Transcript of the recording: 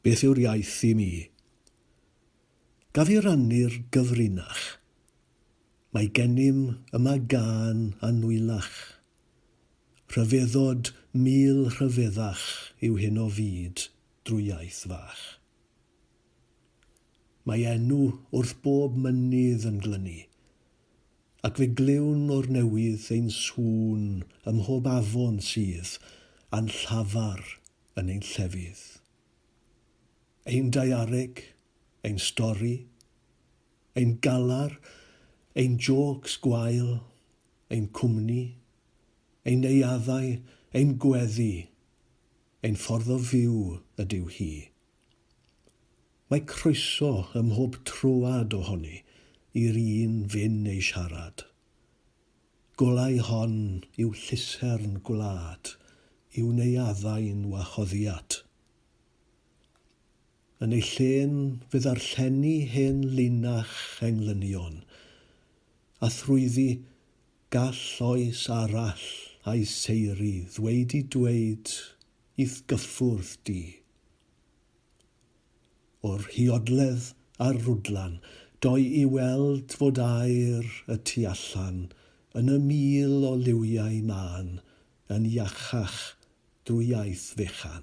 Beth yw'r iaith i mi? Gaf i rannu'r gyfrinach? Mae gennym yma gân annwyllach, Rhyfeddod mil rhyfeddach yw hyn o fyd drwy iaith fach. Mae enw wrth bob mynydd yn glynu, ac fe glywn o'r newydd ein sŵn ym mhob afon sydd a'n llafar yn ein llefydd. Ein daeareg, ein stori, ein galar, ein jôcs gwael, ein cwmni, ein neuaddau, ein gweddi, ein ffordd o fyw ydyw hi. Mae croeso ym mhob troad ohoni i'r un fin ei siarad. Golau hon yw llusern gwlad i'w neuaddau'n wahoddiad. Yn ei lle'n fe ddarllenni hen linach englynion, a thrwyddi gall oes arall a'i seiri ddweud i dweud i'th gyffwrdd di. O Rhiodledd a Rhwdlan, doi i weld fod aer y tu allan yn y mil o liwiau mân yn iachach drwy iaith fechan.